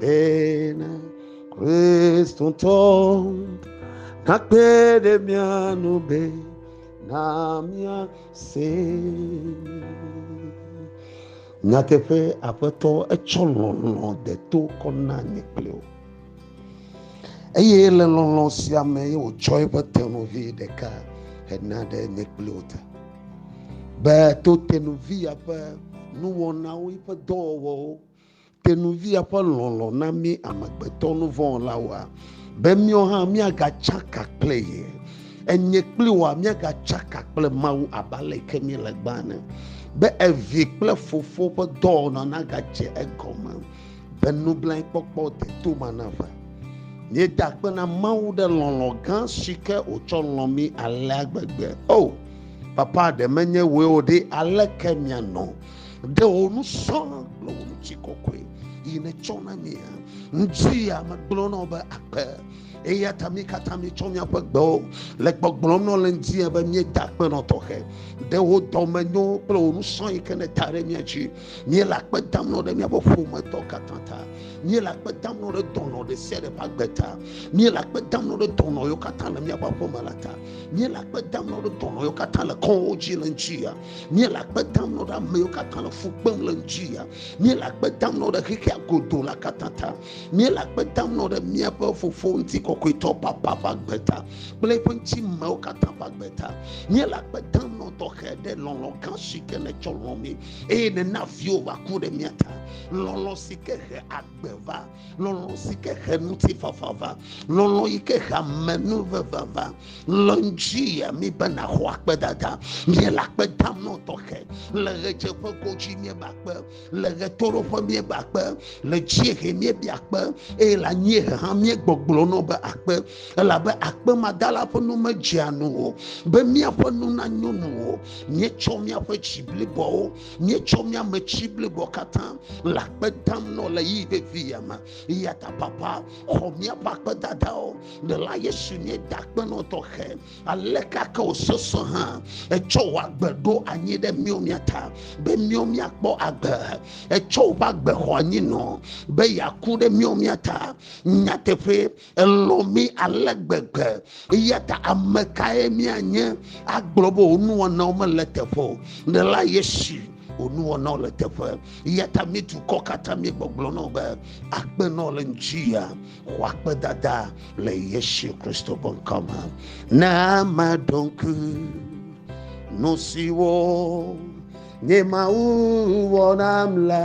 Bene Kristotɔ nakpe ɖe mía nu be na mía se. Nyateƒe aƒetɔ etsɔ lɔlɔ de to kɔ na nye kple o. Eye le lɔlɔ sia me ye wòtsɔ eƒe tenuvi ɖeka hena ɖe nye kple o ta. Be to tenuvi ya ƒe nuwɔnawo, eƒe dɔwɔwɔwo Te nu via ƒe lɔlɔ̃ na mí amegbetɔ nuvɔ̃wɔlawoa, be míawo hã míagatsaka kple ye. Enye kpli woa, míagatsaka kple Mawu abe aleke míele gbã ene, be evi kple fofo ƒe dɔwɔna nagadze egɔme, be nublanuikpɔkpɔ deto ma nava. Míeda akpe na Mawu ɖe lɔlɔ̃ gã si ke wòtsɔ lɔ̃ mí alea gbegbe. O, Papa, ɖe menye wòe o ɖe, aleke míanɔ ɖe wò nu sɔ kple wò ŋuti kɔkɔe yi netsɔ na mia ŋuti ya megblɔ na wo be akpe eya ta mi katã mitsɔ miaƒe gbewo le gbɔgblɔm nɔ le ŋdi be mieda akpe nɔ tɔxɛ ɖe wo dɔme nyo kple wo nusɔ yi ke ne ta ɖe mia dzi miele akpe dam nɔ ɖe miaƒe ƒometɔ katã ta miele akpe dam nɔ ɖe dɔnɔ ɖe sia ɖe ƒe agbe ta miele akpe dam nɔ ɖe dɔnɔ yiwo katã le miaƒe aƒeme la ta miele akpe dam nɔ ɖe dɔnɔ yiwo katã le kɔwo dzi le ŋdi ya míele akpe dam nɔ ɖe ame yiwo katã le fu kpem le ŋuti ya míele akpe dam nɔ ɖe xexea godo la katã ta míele akpe dam nɔ ɖe míaƒe fofo ŋuti kɔkɔetɔ papa ƒe agbe ta kple eƒe ŋuti mewo katã ƒe agbe ta míele akpe dam nɔ tɔxɛ ɖe lɔlɔ gã si ke netsɔ lɔ mi eye nena viwo va ku ɖe mía ta lɔlɔ si ke he agbe va lɔlɔ̃ si ke he ŋutifafa va, lɔlɔ̃ yi ke he amenuveve va. Le ŋdzi ya mi be nàxɔ akpedada. Míele akpe dam nɔ tɔxɛ. Le ɣedzeƒe godzi míebe akpe, le ɣetoɖoƒe míebe akpe, le dziehe míebia akpe, eye le anyiehe hã míegbɔgblɔ nɔ be akpe, elabe akpe madala ƒe nu medzea nu o, be míaƒe nu nanyo nu o. Míetsɔ míaƒe dzi bliboawo míetsɔ mía me tsi blibo katã le akpe dam nɔ le yi vevi ya me ya ta papa xɔ míaƒe akpedadawo le la yesu nye da akpenɔ tɔxɛ ale kake o sese hã etsɔ wò agbe ɖo anyi ɖe mío mía ta be mío míakpɔ agbe etsɔ woƒe agbe xɔ anyi nɔ be yeaku ɖe mío mía ta nyateƒe Elɔ̃ mí ale gbegbe, eya ta ame kae míanye agblɔ be wò nuwɔnawo mele teƒe o? Ne la Yesu wò nuwɔnawo le teƒe. Eya ta mí dukɔ katã míegbɔgblɔ na wò be, Akpe na wò le ŋutia, xɔ akpedada le Yesu Kristo ƒe ŋkɔ me. Ne ame ɖo ŋku nu siwo nye Mawu wɔ nam la,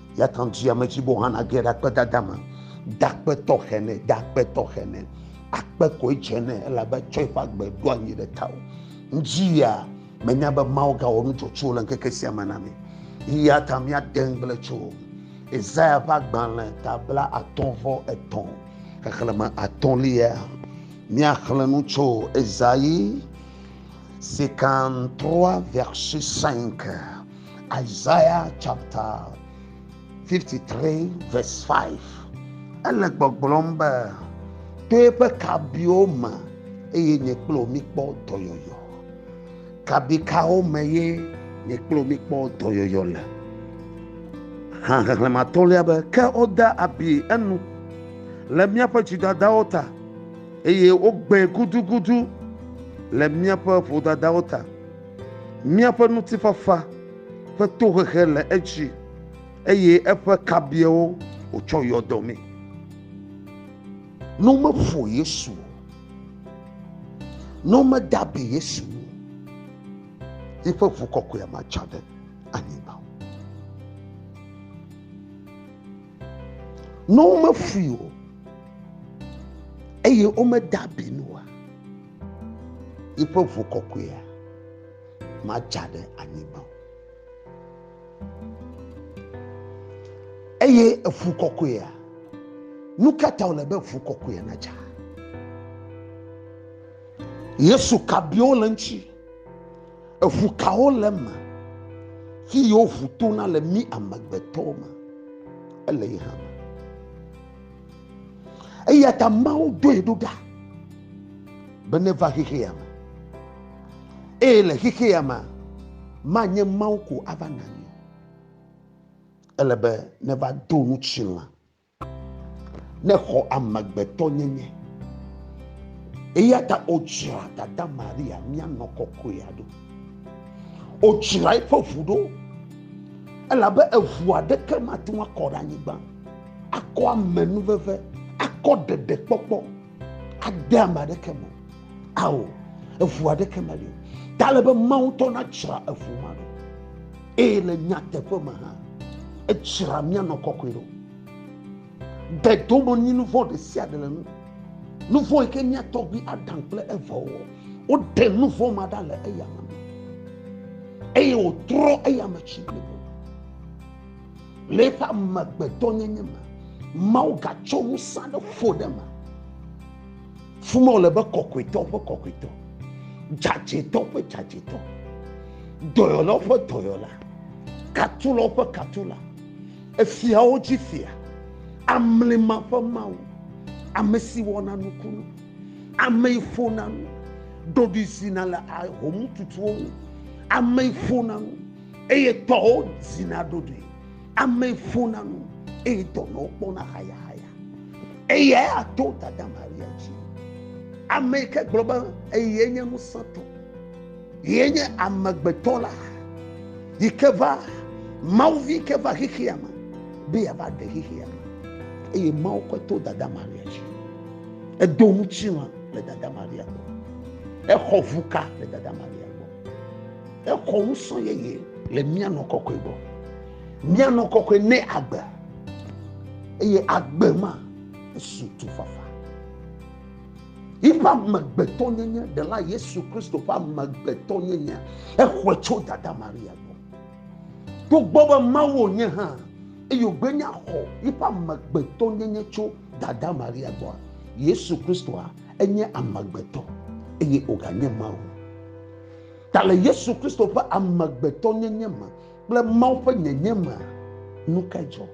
Yatan dzi ame tsibo hã nage ɖe akpedada me. Dakpetɔ xene, dakpetɔ xene. Akpe koe dze nɛ elabe tsɔe ƒe agbe ɖo anyi ɖe tao. Ŋdzi ya menya be Mawu gawɔ nu tsotso le ŋkeke sia me na mi. Eya ta míade ŋugble tso Isaya ƒe agbalẽ ta bla atɔ̃ vɔ etɔ̃ xexlẽme atɔ̃lia. Míaxlẽ nu tso Isaïe 53 verset 5. Isaiah chapter 53 verse 5 ele gbɔgblɔm be to eƒe kabiwo me eye nye kple wo mikpɔ dɔyɔyɔ kabi kawo me ye nye kple wo mikpɔ dɔyɔyɔ le hã xexlẽme atɔ̃lia be ke wode abi enu le míaƒe dzidadawo ta eye wogbãe gudugudu le míaƒe vodadawo ta Míaƒe ŋutifafa ƒe tohehe le edzi, eye eƒe kabiawo wòtsɔ yɔ dɔ mee. Ne womeƒo Yesu o, ne womeda abi Yesu o, yiƒe ʋu kɔkɔea matsa ɖe anyigba o. Ne womefui o eye womeda abi nu o, Yiƒe ʋu kɔkɔea madza ɖe anyigba o. Eye eʋu kɔkɔea, nu ka ta wòle be ʋu kɔkɔea nadza? Yesu ka biwo le ŋuti? Eʋu kawo le eme? Fi yewo ʋu tona le mí amegbetɔwo me. Ele yi hã me. eya ta mawo doe ɖo ɖa be neva xexea me eye le xexea me manye mawo ko ava na mi ele be neva do nu tsilã ne xɔ amegbetɔ nyenye eya ta odzra dada maria mianɔ kɔkɔea ɖo odzra eƒe ʋu ɖo elabe eʋu aɖeke mate ŋu akɔ ɖe anyigba akɔ amenuveve, akɔ ɖeɖekpɔkpɔ ade ame aɖeke me. Ao, eŋu aɖeke meli o. Ta le be Mawu ŋutɔ natsra eŋu ma ɖo. Eye le nyateƒe me hã, etsra míanɔ kɔkɔe ɖo. De dome nyi nu vɔ̃ ɖe sia ɖe le nu. Nu vɔ̃ yi ke mía tɔgbui Adam kple Eva wɔ, woɖe nu vɔ̃ ma ɖa le eya me eye wòtrɔ eya me tsi blibo. Le eƒe amegbetɔnyenye me, Mawu gatsɔ ŋusẽ aɖe ƒo ɖe eme. Fi ma wòle be kɔkɔetɔwo ƒe kɔkɔetɔ, dzadzɛtɔwo ƒe dzadzɛtɔ, dɔyɔlawo ƒe dɔyɔla, katulawo ƒe katula, efiawo dzi fia, amlima ƒe Mawu, ame si wɔna nukunu, ame yi ƒona nu, ɖoɖoe zina le ahomututuwo ŋu, ame yi ƒona nu. Eye tɔwo dzina ɖoɖoe, ame ƒona nu, eye dɔnɔwo kpɔna hayahaya. Eyae ato dada Maria dzi. Ame yi ke gblɔ be eye nye ŋusẽtɔ, ye nye amegbetɔ la, yi ke va Mawu vi ke va xexea me be yeava ɖe xexea me. Eye Mawu kɔe to dada Maria dzi. Edo ŋutilã le dada Maria gbɔ. Exɔ ʋuka le dada Maria gbɔ. Exɔ ŋusɔ yeye le mía nɔ kɔkɔe gbɔ. Mía nɔ kɔkɔe ne agbe. Eye agbe ma esu tu fafa. Yiƒe amegbetɔ nyenye, ɖela Yesu Kristo ƒe amegbetɔ nyenye, exɔe tso dada Maria gbɔ. To gbɔ be Mawu wònye hã, eye wògbe nya xɔ yiƒe amegbetɔ nyenye tso dada Maria gbɔa, Yesu Kristoa enye amegbetɔ eye wòganye Mawu. Ta le Yesu Kristo ƒe amegbetɔnyenye me kple Mawu ƒe nyenye me, nu kae dzɔ?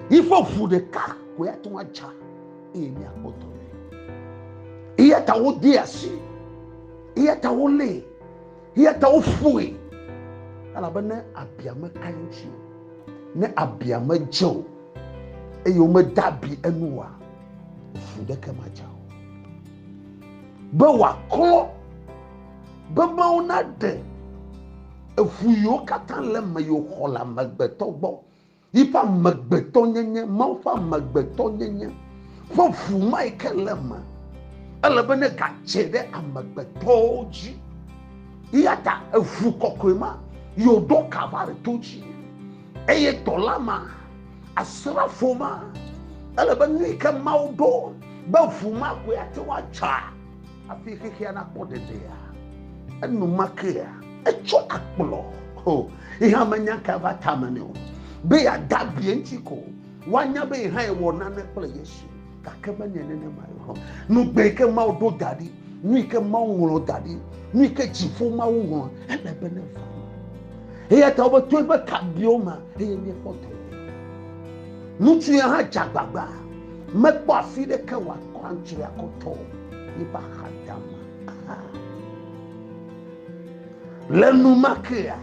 Yi ƒe ʋu ɖeka koe ate ŋu adza eye míakpɔ dɔ nɛ. Eya ta wodee asi, eya ta wolée, eya ta woƒoe. Elabe ne abia meka eŋuti o, ne abia medze o, eye womeda abi enu oa, ʋu ɖeke madza o. Be wòaklɔ Be Mawu naɖe eŋu yiwo katã le eme yi wòxɔ le amegbetɔ gbɔ, yiƒe amegbetɔnyenye, Mawu ƒe amegbetɔnyenye ƒe ŋu ma yi ke le eme. Ele be negadze ɖe amegbetɔwo dzi. Eya ta eŋu kɔkɔe ma yi wòɖo Kalvari to dzi. Eye dɔla ma, asrafo ma, ele be nu yi ke Mawu ɖo be ŋu ma koe ate ŋu adzea, Hafi xexea nakpɔ ɖeɖea, enumakea etsɔ akplɔ ho yi hã menya ka va tame nɛ o be yeada bia eŋuti ko woanya be yi hã yewɔ nane kple Yesu gake menye nenema o. Nugbe yi ke Mawu ɖo da ɖi, nu yi ke Mawu ŋlɔ da ɖi, nu yi ke dziƒo Mawu ŋlɔ, ele be ne va. Eya ta wobe to eƒe kabiwo me eye míekpɔ dɔ. Ŋutsu ya hã dze agbagba. Mekpɔ afi ɖeke wòakɔ antsrɔe akɔtɔ o, yiƒe axadama hã. Le enumekea,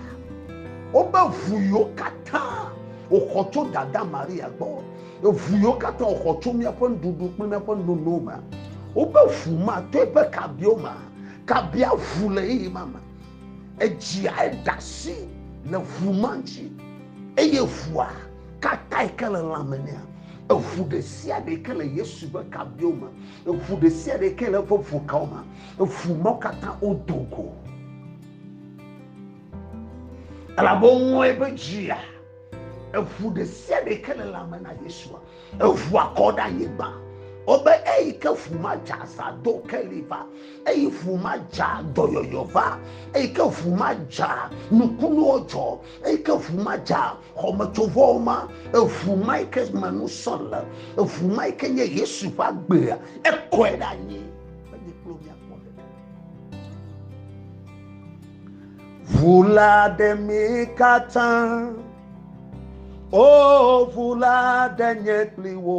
wobe ʋu yiwo katã wòxɔ tso dada Maria gbɔ, ʋu yiwo katã wòxɔ tso míaƒe nuɖuɖu kple míaƒe nono me, wobe ʋu ma to eƒe kabiwo me, kabia ʋu le ɣeyiɣi ma me. Edziae ɖe asi le ʋu ma ŋuti, eye ʋua Kata yi ke le lã me nɛa? Eŋu ɖe sia ɖe yi ke le Yesu ƒe kabiwo me, eŋu ɖe sia ɖe yi ke le eƒe ŋukawo me, eŋu mawo katã wodo go. Elabe woŋlɔe be dzia, eŋu ɖe sia ɖe yi ke le lã me na Yesua, eŋua kɔ ɖe anyigba. Wobe eyi ke ŋu ma dze aza do keli va, eyi ŋu ma dze dɔyɔyɔ va, eyi ke ŋu ma dze nukunuwo dzɔ, Eyi ke ŋu ma dza xɔmetsovɔwo ma, eŋu ma yi ke me nusɔ le, eŋu ma yi ke nye Yesu ƒe agbea, ekɔe ɖe anyi be nye kple miakpɔ ɖeɖe. Ŋu la ɖe mi katã, o ŋu la ɖe nye kpli wo.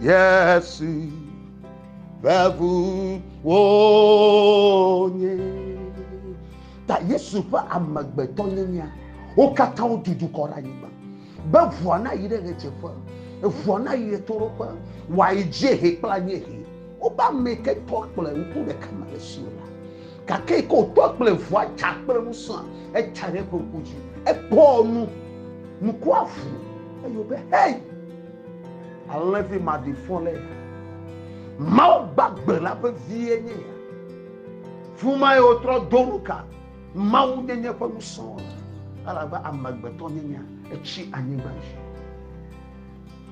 Yesu ƒe ʋu wonye. Ta Yesu ƒe amegbetɔ nyenya wo katã wotu dukɔ ɖe anyigba be ʋua na yi ɖe ɣedzeƒe, ʋua na yi ɖe toɖoƒe, wòayi dziehe kple anyiehe. Wobe ame ke tɔ kple ŋku ɖeka me le si la gake yi ke wòtɔ kple ʋua dza kple ŋusẽa etsa ɖe eƒe ŋku dzi ekpɔ nu nukua ʋu eye wobe hei Alẽvi maɖifɔ le ya. Mawu gbagbe la ƒe vie nye ya. Fumae wotrɔ do nu ka Mawu nyenye ƒe ŋusẽ le. Elabe amegbetɔ nyenya etsi anyigba dzi.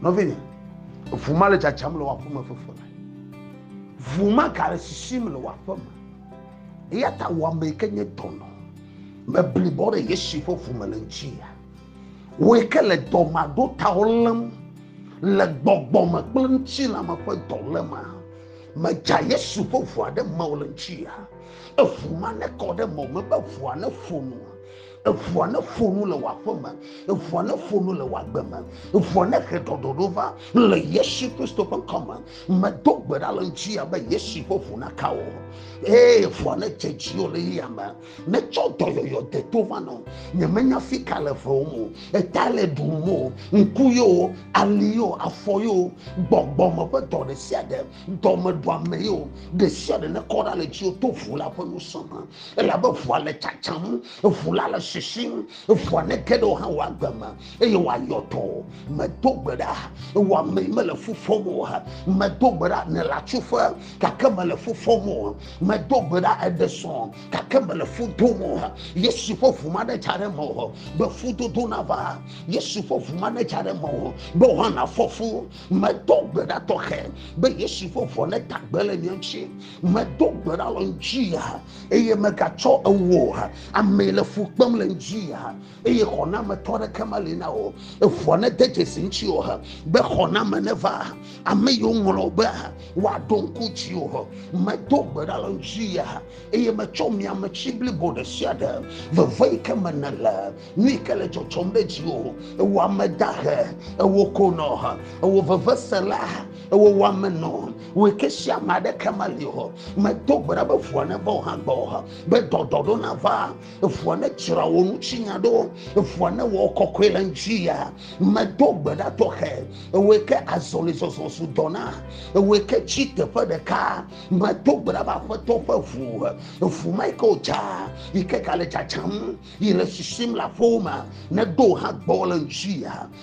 Nɔvinye, ʋu ma le dzadzam le wò aƒeme fefe me. Ʋu ma gale sisim le wò aƒeme. Eya ta wò ame yi ke nye dɔnɔ meblibɔ ɖe Yesu ƒe ʋu me le ŋuti ya. Wòe ke le dɔmaɖotawo lém, le gbɔgbɔ me kple ŋutilãme ƒe dɔlémea. Medza Yesu ƒe ʋua ɖe mewò le ŋutia. Eʋu ma nekɔ ɖe mewò me be ʋua neƒo nu. Eʋua neƒo nu le wò aƒe me. Eʋua neƒo nu le wò agbe me. Eʋua nehe ɖɔɖɔɖo va le Yesu Kristo ƒe ŋkɔ me. Medo gbe ɖa le ŋutia be Yesu ƒe ʋu naka wò. Eye ʋua nedze dziwò le yeyea me. Metsɔ dɔyɔyɔ de to va nɔ. Nyemenya fi ka le vewom o. Eta le ɖum o. Ŋku yo, ali yo, afɔ yo, gbɔgbɔ me ƒe dɔ ɖe sia ɖe, dɔmeɖuame yo, ɖe sia ɖe ne kɔ ɖa le dziwò to ʋu la ƒe ŋusẽ me. Elabe ʋua le tsatsam, ʋu la le sisim, ʋua ne ge ɖe wò hã wò agbe me eye wòayɔ dɔ o. Medo gbe ɖa, wò amee mele fu fɔm o. Medo gbe ɖa, nèle atsuƒe gake mèle fu fɔm o. medo gbe ɖa ede sɔŋ gake mele fu dom o yesu ƒe ʋu ma netsa ɖe me o be fudodo nava yesu ƒe ʋu ma netsa ɖe me o be woana fɔfu medo gbe ɖa tɔxɛ be yesu ƒe ʋɔ neta gbe le mia ŋuti medo gbe ɖa le ŋuti ya eye megatsɔ ewo amee le fu kpem le ŋuti ya eye xɔnametɔ aɖeke meli na wò eŋua nede dzesi ŋuti o be xɔname neva ame yiwo ŋlɔ be woaɖo ŋku dzi o medo gbe ɖa le ŋuti ya eye metsɔ miame tsi blibo ɖe sia ɖe veve yi ke me nele nu yi ke le dzɔdzɔm ɖe dzi o ewɔ ame dahe ewɔ konɔ ewɔ vevesela ewɔ wɔmenɔ wɔ ke sia ame aɖeke meli o medo gbe ɖa be ŋua neva o hã gbɔ be dɔdɔɖo nava eŋua ne dzra wò ŋutinya ɖo eŋua ne wɔ kɔkɔe le ŋuti ya medo gbe ɖa tɔxɛ ewɔe ke azɔlizɔzɔ su dɔ na ewɔe ke tsi teƒe ɖeka medo gbe ɖa be aƒetɔ ƒe ŋu eŋu ma yi ke wòdza yi ke gale dzadzam yi le sisim le aƒewo me neɖo hã gbɔ le ŋuti ya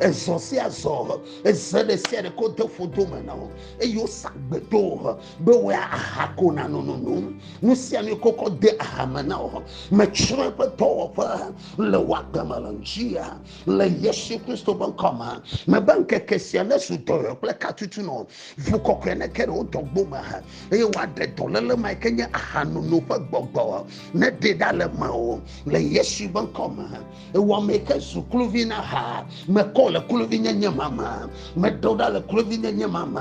Ezɔ sia zɔ, eze ɖe sia ɖe ko de fodo me na wo, eye wosa gbe do wo be woe aha ko na nonono. Nu sia nu kokɔ de aha me na wo. Metsrɔ̃ eƒe dɔwɔƒe le wò agbe me le ŋutia le Yesu Kristo ƒe ŋkɔ me. Mebe ŋkeke sia nezu dɔyɔyɔ kple katutu nɔ ʋu kɔkɔe neke ɖe wo dɔgbo me eye woaɖe dɔléle ma yi ke nye ahanono ƒe gbɔgbɔ neɖe ɖa le mewò le Yesu ƒe ŋkɔ me. Ewɔmee ke zu kluvi na ha. Mekɔ le kluvinyenye ma me. Meɖo ɖa le kluvinyenye ma me.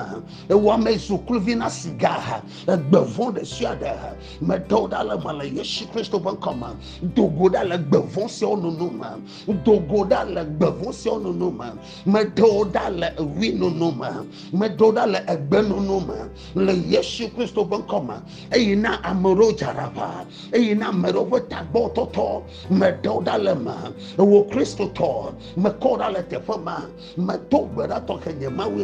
Ewɔmee zu kluvi na siga. Egbe vɔ̃ ɖe sia ɖe. Meɖo ɖa le me le Yesu Kristo ƒe ŋkɔ me. Do go ɖa le gbe vɔ̃ siawo nono me. Do go ɖa le gbe vɔ̃ siawo nono me. Meɖo ɖa le ewui nono me. Meɖo ɖa le egbe nono me le Yesu Kristo ƒe ŋkɔ me. Eyi na ame ɖewo dzaraʋa. Eyi na ame ɖewo ƒe tagbɔ tɔtɔ. meɖe wo ɖa le eme wò kristotɔ mekɔ wo ɖa le teƒe ma medo gbe ɖa tɔxɛ nye mawue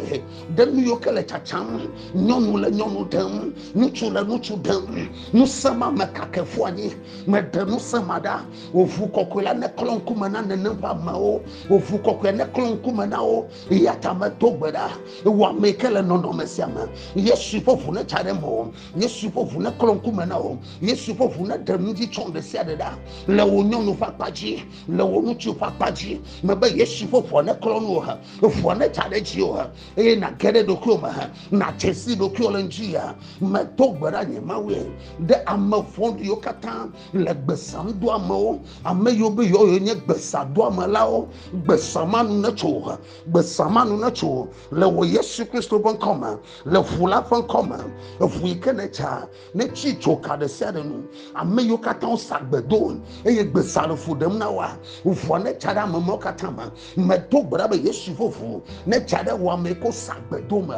ɖe nu yiwo ke le tsatsam nyɔnu le nyɔnu ɖem ŋutsu le ŋutsu ɖem ŋusẽ ma mekake ƒu anyi meɖe ŋusẽ ma ɖa wòʋu kɔkɔe la neklɔ ŋkume na nenem ƒe amewo wòʋu kɔkɔe neklɔ ŋkume na wo eya ta medo gbe ɖa wò ame yi ke le nɔnɔme sia me yesu ƒe ʋu netsa ɖe me o Yesu ƒe ʋu neklɔ ŋkume na wo. Yesu ƒe ʋu neɖe nu dzi tsɔm ɖe sia ɖe ɖa le wò nyɔnu ƒe akpa dzi, le wò ŋutsu ƒe akpa dzi. Mebe Yesu ƒe ʋua neklɔ nu wò he, ʋua nedza ɖe dzi wò he, eye nàge ɖe ɖokuiwò me he, nàdze si ɖokuiwò le ŋdi ya. Medo gbe ɖa nye Mawue ɖe ame vɔ̃ɖiwo katã le gbesanudoamewo, ame yiwo be yewoe nye gbesadoamelawo. Gbesamanu netso wò he, gbesamanu netso wò le wò Yesu Kristo ƒe ŋkɔ me. le ʋu la ƒe ŋkɔ me eʋu yi ke ne tsa ne tsi tso ka ɖe sia ɖe nu ame yiwo katã wo sa gbe do eye gbe sa le fu ɖem na wa ʋua ne tsa ɖe ame mawo katã me me do gbe ɖa be yesu ƒe ʋu ne tsa ɖe wɔ ame ko sa gbe do me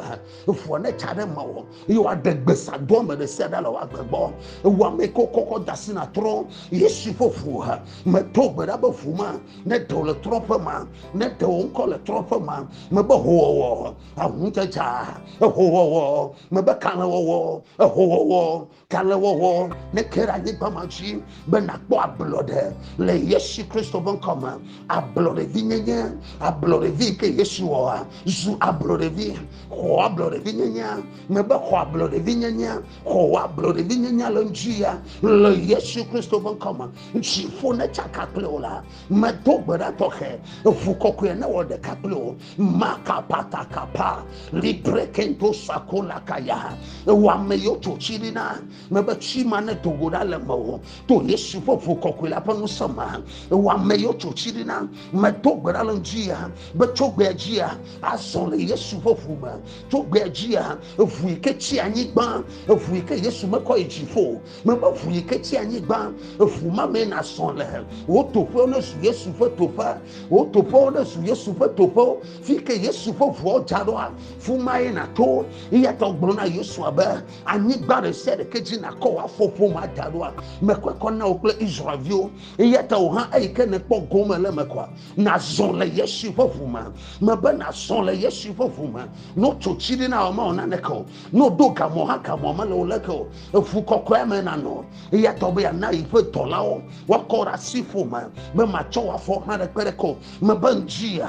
ʋua ne tsa ɖe ma wɔ eye wa ɖe gbe sa do ame ɖe sia ɖe le wa gbe gbɔ ewu ame ko kɔkɔ da si na trɔ yesu ƒe ʋu ha me do gbe ɖa be ʋu ma ne ɖe le trɔ ƒe ma ne ɖe wo ŋkɔ le trɔ ƒe ma me be ho wɔwɔ aŋudzedza, ehowɔwɔ, mebe kalẽwɔwɔ, ehowɔwɔ, kalẽwɔwɔ neke ɖe anyigba ma dzi be nàkpɔ ablɔɖe le Yesu Kristo ƒe ŋkɔ me. Ablɔɖevi nyenye, ablɔɖevi yi ke Yesu wɔa, zu ablɔɖevi, xɔ ablɔɖevi nyenye, mebe xɔ ablɔɖevi nyenye, xɔ ablɔɖevi nyenye le ŋdzi ya le Yesu Kristo ƒe ŋkɔ me. Dziƒo netsaka kple wò la, medo gbe ɖa tɔxɛ, eŋu kɔkɔe newɔ ɖeka kple wò. makapatakapa librekento sakola kaya ewɔ ame yiwo tso tsi ɖi na mebe tsi ma ne do go ɖa le me o to yesu ƒe ʋu kɔkɔe la ƒe ŋusẽ me ewɔ ame yiwo tso tsi ɖi na medo gbe ɖa le ŋutia be tso gbea dzia azɔ le yesu ƒe ʋu me tso gbea dzia eʋu yi ke tsi anyigba eʋu yi ke yesu mekɔ yi dziƒo mebe ʋu yi ke tsi anyigba ʋu ma mee nazɔ le wò toƒewo ne zu yesu ƒe toƒe wò toƒewo ne zu yesu ƒe toƒewo fi ke yesu ƒe ʋuawo dza ɖoa fu mae nato eya ta gblɔ na yosua be anyigba ɖe sia ɖeke dzi nakɔ wò afɔ ƒoma da ɖoa mekɔe kɔ na wò kple israelviwo eya ta wò hã eyi ke nekpɔ gome le me kɔa nazɔ le yesu ƒe ʋu me mebe nazɔ le yesu ƒe ʋu me notso tsi ɖi na wò ma wò naneke o ne woɖo gamɔ hã gamɔ mele o leke o eŋu kɔkɔe me nanɔ eya tɔ be yana yi ƒe dɔlawo wakɔ ɖe asi ƒome be matsɔ wɔ afɔ hã ɖe kpe ɖe ko mebe ŋdzia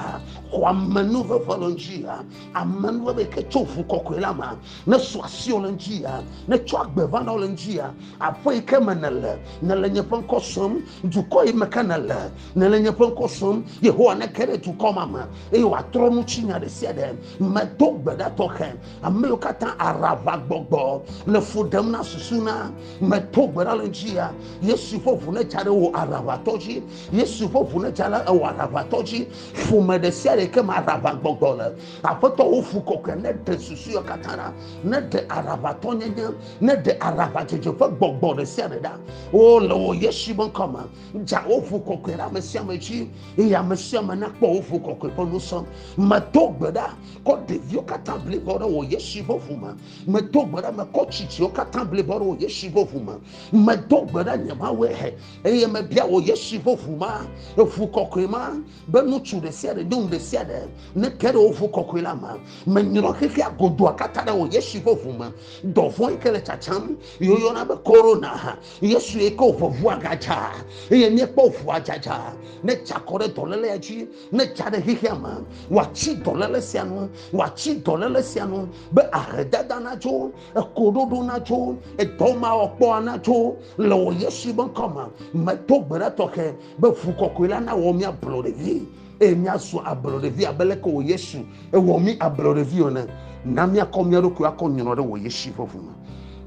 xɔ amenu veve le ŋdzia amenu veve yi ke tso ŋu kɔkɔe la me ne so asiwo le ŋdzia ne tsɔ agbe va na wo le ŋdzia aƒe yi ke me nele nele nye ƒe ŋkɔ sɔm dukɔ yi me ke nele nele nye ƒe ŋkɔ sɔm yehowa neke ɖe dukɔ ma me eye wòatrɔ nu tsi nya ɖe sia ɖe medo gbe ɖa tɔxɛ Ame yiwo katã aɖaʋagbɔgbɔ le fu ɖem na susu na meto gbe ɖa le ŋutia yesu ƒe ʋu netsa ɖe wò aɖaʋatɔ dzi yesu ƒe ʋu netsa ɖe ewɔ aɖaʋatɔ dzi ƒome ɖe sia ɖe ke me aɖaʋagbɔgbɔ le aƒetɔ wo fu kɔkɔe ne ɖe susu yiwo katã ɖa ne ɖe aɖaʋatɔ nyenye ne ɖe aɖaʋadzedze ƒe gbɔgbɔ ɖe sia ɖe ɖa wo le wò yesu ƒe ŋkɔ me dza wo ʋu kɔkɔe ɖe ame sia ame dzi eye ame sia ame nakpɔ wo ʋu kɔkɔe ƒe nusɔ meto gbe ɖa kɔ ɖeviwo katã blibo ɖe wò Yesu ƒe ʋu me. Medo gbe ɖe mekɔ tsitsiwo katã blibo ɖe wò Yesu ƒe ʋu me. Medo gbe ɖe nye Mawue he eye mebia wò Yesu ƒe ʋu ma, eʋu kɔkɔe ma, be ŋutsu ɖe sia ɖe, nyɔnu ɖe sia ɖe neke ɖe wò ʋu kɔkɔe la me. Menyrɔ xexea godoa katã ɖe wò Yesu ƒe ʋu me. Dɔvɔ̃ yi ke le tsatsam yi woyɔna be korona, Yesu yi ke wòʋe ʋua gadza eye míekpɔ ʋua dzadza. Netsi akɔ ɖe dɔléle dzi ne dza ɖe xexea me wòatsi dɔléle sia nu wòatsi dɔléle sia nu be ahedada natso ekoɖoɖo natso edɔmawɔkpɔa natso le wò yesu be ŋkɔ me meto gbe ɖa tɔxɛ be ʋu kɔkɔe la nawɔ mía ablɔɖevi eye míazu ablɔɖevi abe leke wò yesu ewɔ mí ablɔɖevi ene na míakɔ mía ɖokui akɔ nyrɔ ɖe wò yesu ƒe ʋu me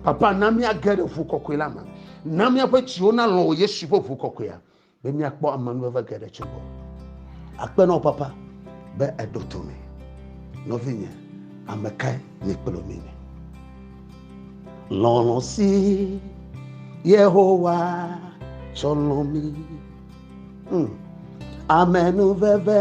papa na míage ɖe ʋu kɔkɔe la me na míaƒe dziwo nalɔ̃ wò yesu ƒe ʋu kɔkɔea be míakpɔ amenuveve geɖe tso gbɔ. Akpe na wò papa be èɖo to mí. Nɔvinye, ame kae nye kple mi le? Lɔlɔ̃ si Yehowa tsɔ lɔ̃ mí. Hmm. Amenuveve.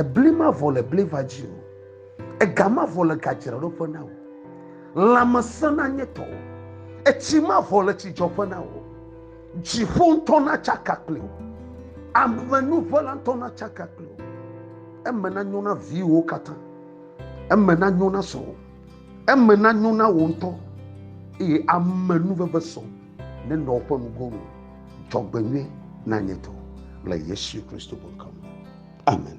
Ebli mavɔ le bliva dzi o, ega mavɔ le gadzraɖoƒe na wò. Lãmesẽ nanye tɔwò, etsi mavɔ le tsidzɔƒe na wò. Dziƒo ŋutɔ natsaka kpli wò, amenuʋela ŋutɔ natsaka kpli wò. Eme nanyo na viwòwo katã, eme nanyo na srɔ̃wò, eme nanyo na wò ŋutɔ, eye amenuveve sɔ. Nenɔ woƒe nugo nu. Dzɔgbenyui na nye dɔ le Yesu Kristo ƒe ŋkɔ me. Amen.